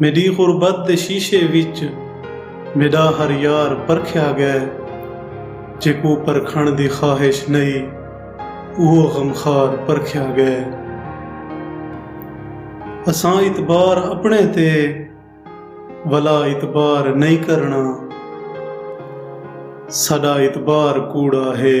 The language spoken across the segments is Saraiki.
میݙی غربت دے شیشے وچ میݙا ہر یار پرکھیا ڳئے جیکوں پرکھݨ دی خواہش نئی اوہو غمخوار پرکھیا ڳئے اساں اعتبار اپݨے تے ولا اعتبار نئی کرݨا ساݙا اعتبار کوڑا ہے۔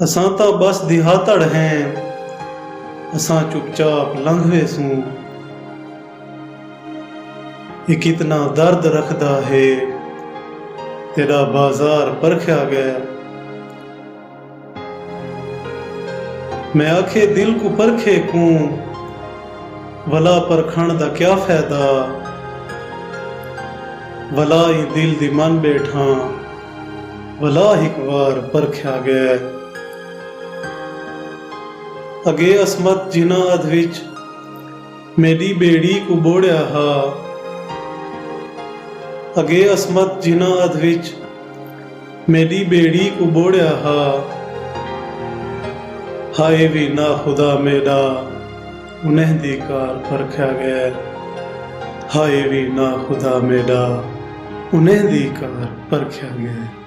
اساں تاں ٻس دیہاتڑ ہیں۔ اساں چپ چاپ لنگھ ویسوں۔ اے کتنا درد رکھدا ہے۔ تیݙا بازار پرکھیا ڳئے۔ میں آکھے دل کوں پرکھے کوں۔ ولا پرکھݨ دا کیا فیدہ۔ ولا ایں دل دی من ٻیٹھاں۔ بھلا ہک وار پرکھیا ڳئے۔ اڳے عصمت جنہاں ادھ وچ میݙی ٻیڑی کوں ٻوڑیا ہا۔ اڳے عصمت جنہاں ادھ وچ میݙی ٻیڑی کوں ٻوڑیا ہا۔ ہائے وی ناخدا میݙا۔ انہیں دی کار پرکھیا غیر ہائے وی نا خدا میڈا انہیں دی کار پرکھیا غیر۔